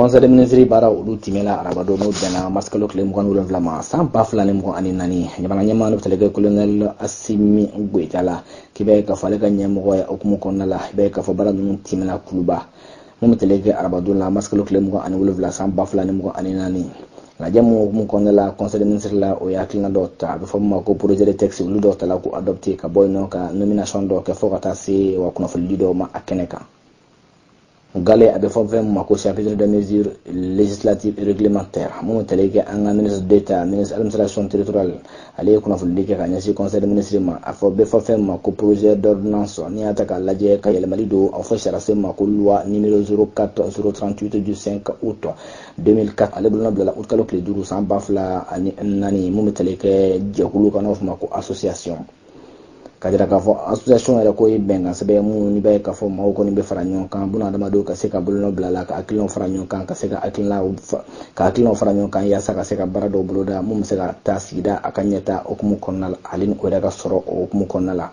conseil des ministres baara olu timɛla arabadon n'o bɛnna masikalo tile mugan ni wolonwula ma san ba fila ni mugan ani naani jamana ɲɛmaa n'o tali kɛ kolonɛli asimi goyita la k'i b'a ye k'a fɔ ale ka ɲɛmɔgɔya hukumu kɔnɔna la i b'a ye k'a fɔ baara ninnu timɛla kuluba mun bɛ tali kɛ arabadon la masikalo tile mugan ani wolonwula san ba fila ni mugan ani naani lajɛ mun hukumu kɔnɔna la conseil des ministres la o ye hakilina dɔ ta a bɛ fɔ min ma ko projet de texte olu dɔw tala ko adopté ka bɔ yen nɔ ka nomination dɔ kɛ fɔ ka taa se wa kunnafonidi dɔw ma a kɛnɛ kan gale a bɛ fɔ fɛn ma ko chapitre des mesures législatives et réglementaires mun bɛ tali kɛ an ka ministre d'État ministre administration territoriale ale ye kunnafonidi kɛ ka ɲɛsin conseil des ministres ma a fɔ bɛ fɔ fɛn ma ko projet d'ordonnance n'i y'a ta k'a lajɛ ka yɛlɛmali don a fɔ sariyasen ma ko loi numéro 04 038 du 5 août 2004 ale bolonɔ bilala août kalo tile duuru san ba fila ani naani mun bɛ tali kɛ jɛkulu kan n'o fɔ ma ko association ka jira k'a fɔ association yɛrɛ ko ye bɛnkan sɛbɛn mun n'i b'a ye k'a fɔ maaw kɔni bɛ fara ɲɔgɔn kan buna adamadenw ka se ka bolonɔ bila la ka hakilinaw fara ɲɔgɔn kan ka se ka hakilinaw ka hakilinaw fara ɲɔgɔn kan yaasa ka se ka baara dɔw boloda mun bɛ se ka taa sigida a ka ɲɛta hukumu kɔnɔna la ale ni o yɛrɛ ka sɔrɔ o hukumu kɔnɔna la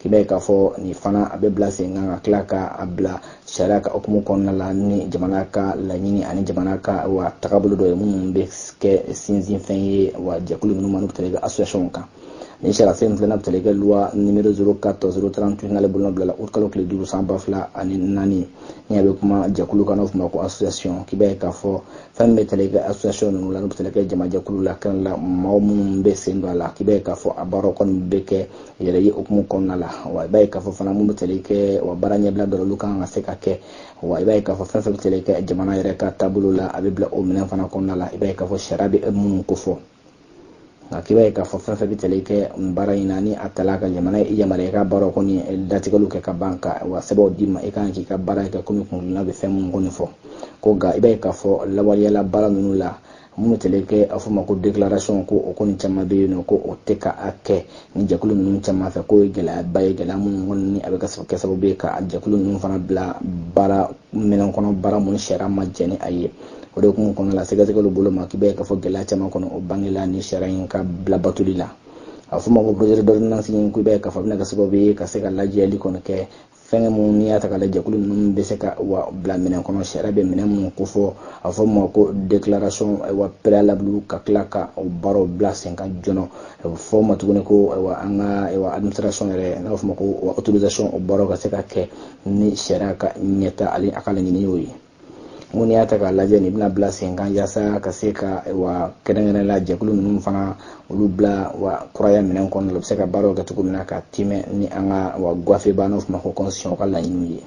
i b'a ye k'a fɔ nin fana a bɛ bila sen kan ka tila ka a bila sariya ka hukumu kɔnɔna la ni jamana ka laɲini ani jamana ka wa tagabolo dɔ ye minnu bɛ kɛ sinsinfɛn ye wa jɛkulu minnu ma n'u tali kɛ association kan Ni sariyasen in filanan tali kɛ loi numéro 04 038 n'ale bolonɔ bilala août kalo tile duuru san ba fila ani naani ni a bɛ kuma jɛkulu kan n'o f'o ma ko association k'i b'a ye k'a fɔ fɛn min bɛ tali kɛ association ninnu la n'u bɛ tali kɛ jamajɛkulu la kɛnɛ la mɔgɔ minnu bɛ sen don a la k'i b'a ye k'a fɔ a baaraw kɔni bɛ kɛ yɛrɛ ye hukumu kɔnɔna la wa i b'a ye k'a fɔ fana minnu bɛ tali kɛ wa baara ɲɛbila dɔ olu kan ka se ka kɛ wa i b'a ye k'a fɔ fɛn fɛn bɛ tali kɛ jamana yɛrɛ ka taabolo la a bɛ bila o minɛn fana kɔnɔna la i b'a ye k'a fɔ sariya bɛ minnu kofɔ nka k'i b'a ye k'a fɔ fɛn fɛn bɛ tali kɛ nin baara in na ni a tala ka jamana yamaruya i ka baaraw kɔni datigɛliw kɛ ka ban ka wa sɛbɛnw d'i ma i kan k'i ka baara kɛ komi kungilan bɛ fɛn minnu kɔni fɔ ko nka i b'a ye k'a fɔ lawaleyali baara ninnu la minnu tali kɛ a fɔ ma ko déclaration ko o kɔni caman bɛ yen nɔ ko o tɛ ka a kɛ ni jɛkulu ninnu caman fɛ k'o ye gɛlɛyaba ye gɛlɛya minnu kɔni ni a bɛ kɛ sababu ye ka jɛkulu ninnu fana bila baara minɛn kɔnɔ baara minnu sariya ma jɛn ni a ye o de hukumu kɔnɔna la sɛgɛsɛgɛliw bolo ma k'i b'a ye k'a fɔ gɛlɛya caman kɔni o bangela ni sariya in ka bila batoli la a fɔ ma ko projet d'ordonnance in k'i b'a ye k'a fɔ a bɛna kɛ sababu ye ka se ka lajɛli kɔni kɛ fɛngɛ minnu n'i y'a ta k'a lajɛ jɛkulu ninnu bɛ se ka wa bila minɛn kɔnɔ sariya bɛ minɛn minnu kofɔ a fɔ ma ko déclaration wa préalable ka tila ka o baaraw bila sen kan joona a bɛ fɔ ma tuguni ko wa an ka wa administration yɛrɛ n'a bɛ fɔ ma ko autorisation o baaraw ka se ka kɛ ni sariya ka ɲɛta ale a ka laɲini y'o ye mun n'i y'a ta k'a lajɛ nin bɛna bila sen kan yasa ka se ka wa kɛrɛnkɛrɛn la jɛkulu ninnu fana olu bila wa kuraya minɛn kɔnɔna la bɛ se ka baaraw kɛ cogo min na ka tɛmɛ ni an ka wa gafeba n'o f'o ma ko constitution ka laɲiniw ye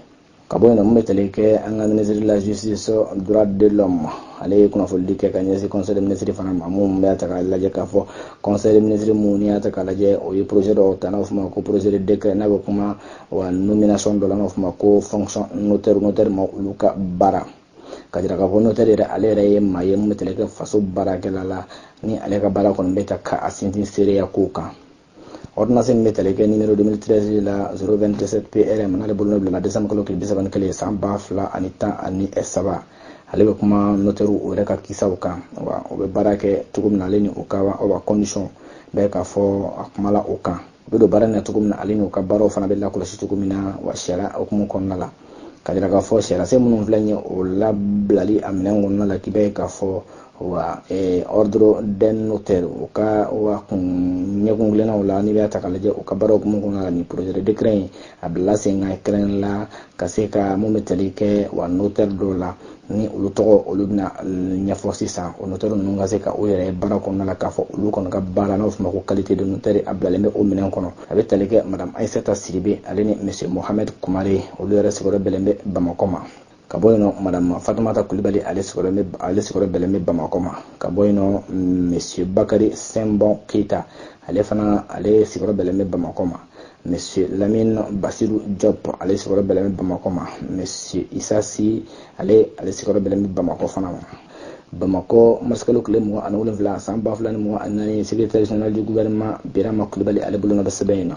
ka bɔ yen nɔ mun bɛ tali kɛ an ka ministre de la justice droit de l'homme ale ye kunnafonidi kɛ ka ɲɛsin conseil des ministres fana ma mun bɛ ta k'a lajɛ k'a fɔ conseil des ministres mun n'i y'a ta k'a lajɛ o ye projet dɔ ta n'o f'o ma ko projet de décret n'a bɛ kuma wa nomination dɔ la n'an b'a fɔ ma ko fonction notaire ma olu ka baara ka jira k'a fɔ notaire yɛrɛ ale yɛrɛ ye maa ye min bɛ tali kɛ faso baarakɛla la ni ale ka baara kɔni bɛ ta ka a sinsin seereya ko kan ordonnance min bɛ tali kɛ numéro 2013 la 027 PRM n'ale bolonɔ bilala décembre kalo tile 31 san ba fila ani tan ani saba ale bɛ kuma notaire o yɛrɛ ka kisaw kan wa o bɛ baara kɛ cogo min na ale ni o ka condition bɛɛ k'a fɔ a kumala o kan u bɛ don baara in na cogo min na ale n'u ka baaraw fana bɛ lakɔlɔsi cogo min na wa sariya hukumu kɔnɔna la ka jira k'a fɔ sariyasen minnu filɛ nin ye o labilali a minɛn kɔnɔna la k'i b'a ye k'a fɔ wa eh, ordre des notaires u ka wa kun ɲɛkun kelennaw la n'i b'a ta k'a lajɛ u ka baaraw hukumu kɔnɔna la nin projet de décret in a bilala sen kan kɛrɛnkɛrɛnnenya la ka se ka mun bɛ tali kɛ wa notaire dɔw la ni olu tɔgɔ olu bɛna ɲɛfɔ sisan o notaire ninnu ka se ka o yɛrɛ baara kɔnɔna la k'a fɔ olu kɔni ka baara n'o fɔ ma ko qualité de notaire a bilalen bɛ o minɛn kɔnɔ a bɛ tali kɛ madame aisata sidibe ale ni monsieur mohamed kumare olu yɛrɛ sigiyɔrɔ bɛnlen bɛ bamakɔ ma ka bɔ yen nɔ madame fatumata kulibali ale sigiyɔrɔ bɛ ale sigiyɔrɔ bɛnlen bɛ bamakɔ ma ka bɔ yen nɔ monsieur bakari sinbon keyita ale fana ale sigiyɔrɔ bɛnlen bɛ bamakɔ ma Monsieur Lamine Basiru Diop ale sigiyɔrɔ bɛnlen bɛ Bamakɔ ma Monsieur Isa Si ale ale sigiyɔrɔ bɛnlen bɛ Bamakɔ fana ma Bamakɔ marisikalo tile mugan ani wolonfila san ba fila ni mugan ani naani secrétaire général du gouvernement Birama Kulibali ale bolonɔ bɛ sɛbɛn in na